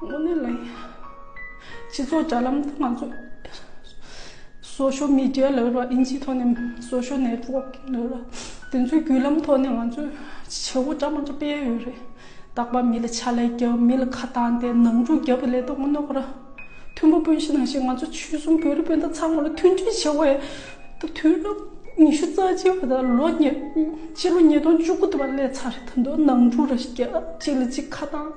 དངོས་གནས་ལ་ཡིན། སྤྱི་ཚོགས་དྲ་ལམ་དང་ང་ཚོས Social Media ལ་རོལ་བ་ཨིན་ཇིའི་ཐོག་ནས Social Network ལ་རོལ་བ་དེ་ཚོའི་བརྒྱུད་ལམ་ཐོག་ནས་ང་ཚོས་བྱེད་སྒོ་འདྲ་མང་འདྲ་སྤེལ་ཡས་ཡོད་རེད། རྟག་པར་མི་ལ་ཕྱག་ལས་རྒྱབ་མི་ལ་ཁ་བཏང་སྟེ་ནང་འཁྲུག་རྒྱབ་པའི་ལས་དོན་ངོ་གནོང་བ་ར་མཐོན་པོ་སྤོན་གཞི་ནང་བཞིན་ང་ཚོ་ཆོལ་གསུམ་བོད་རིགས་སྤུན་ཟླ་ཚང་མ་ལ་མཐུན་སྒྲིལ་བྱེད་དགོས་ད་དུས་རབས་ཉི་ཤུ་རྩ་གཅིག་པ་དང་ལོ་ཉེ་སྤྱི་ལོ་ཉིས་སྟོང་བཅུ་དགུ་ཐུབ་པ་སླེབས་ཚར་ད་དུང་ནང་འཁྲུག་ར་བརྒྱབ་གཅིག་ལ་གཅིག་ཁ་བཏང།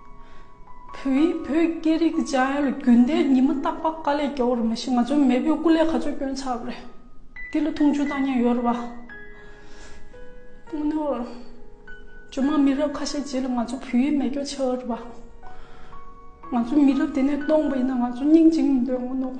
བོད་ཡིག་བོད་སྐད་རིག་བྱ་ཡུལ་རྒྱུན་ལྡན་ཉི་མ་རྟག་པ་དཀའ་ལས་རྒྱལ་བོར་མི་ཤེས་ང་ཚོའི་མེས་པོའི་སྐུ་ལས་ག་ཚོད་སྐྱོན་ཆགས་པ་རེད་འདི་ལ་འཐུང་ཆུ་བཏང་ཉན་ཡོད་རེད་བ། ཇོ་མང་མི་རབས་ཁ་ཤས་རྗེས་ལ་ང་ཚོ་བོད་ཡིག་མེད་སྐྱོ་ཆགས་ཡོད་རེད་བ། ང་ཚོ་མི་རབས་དེ་ནས་སྟོང་པ་ཡིན་ན་ང་ཚོ་སྙིང་འཇིག་མི་འདོད་ངོ་ནོག།